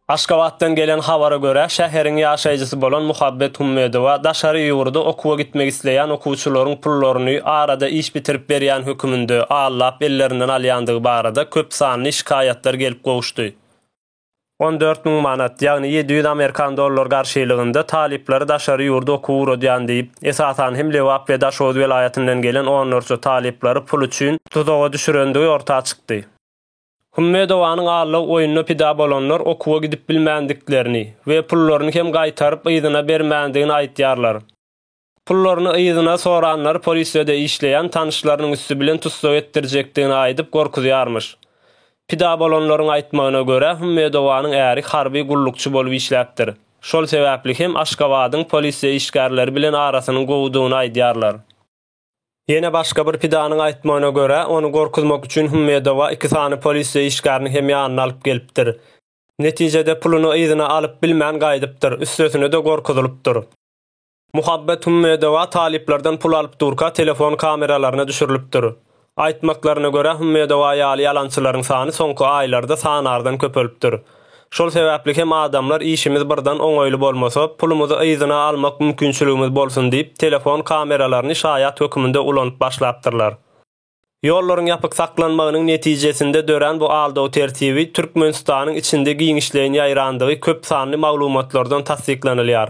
Aşgabatdan gelen habara görä, şäheriň ýaşaýjysy bolan Muhabbet Hummedowa daşary ýurda okuwa gitmek isleýän okuwçylaryň pullaryny arada iş bitirip berýän höküminde allap ellerinden alýandygy barada köp sanly şikaýatlar gelip gowuşdy. On dört müň manat, ýagny ýedi ýüz amerikan dollar garşylygynda talyplary daşary ýurda okuwa ugradýan diýip, esasan hem Lebap we Daşoguz welaýatyndan gelen onlarça talyplary pul üçin tuzaga düşürendigi orta çykdy. Hummedowanyň allag oýnuna pida bolanlar okuwa gidip bilmändiklerini we pullaryny hem gaýtaryp yzyna bermändigini aýdýarlar. Pullaryny yzyna soranlar polisede işleýän tanyşlarynyň üsti bilen tussag etdirjekdigini aýdyp gorkuzýarmyş. Pida bolanlaryň aýtmagyna görä, Hummedowanyň äri harby gullukçy bolup işläpdir. Şol sebäpli hem Aşgabadyň polisiýa işgärleri bilen arasynyň gowudygyny aýdýarlar. Ýene başga bir pidanyň aýtmagyna görä, ony gorkuzmak üçin Hummedowa iki sany polisiýa işgärini hem ýanyna alyp gelipdir. Netijede puluny yzyna alyp bilmän gaýdypdyr, üstesine-de gorkuzylypdyr. Muhabbet Hümmedowa talyplardan pul alyp durka telefon kameralaryna düşürilipdir. Aýtmaklaryna görä Hümmedowa ýaly ýalançylaryň sany soňky aýlarda sanardan köpelipdir. Şol sebäpli hem adamlar işimiz birden oňaýly bolmasa pulumyzy yzyna almak mümkinçiligimiz bolsun diýip telefon kameralaryny şaýat höküminde ulanyp başlapdyrlar. Ýollaryň ýapyk saklanmagynyň netijesinde dörän bu aldaw tertibi Türkmenistanyň içinde giňişleýin ýaýrandygy köp sanly maglumatlardan tassyklanylýar.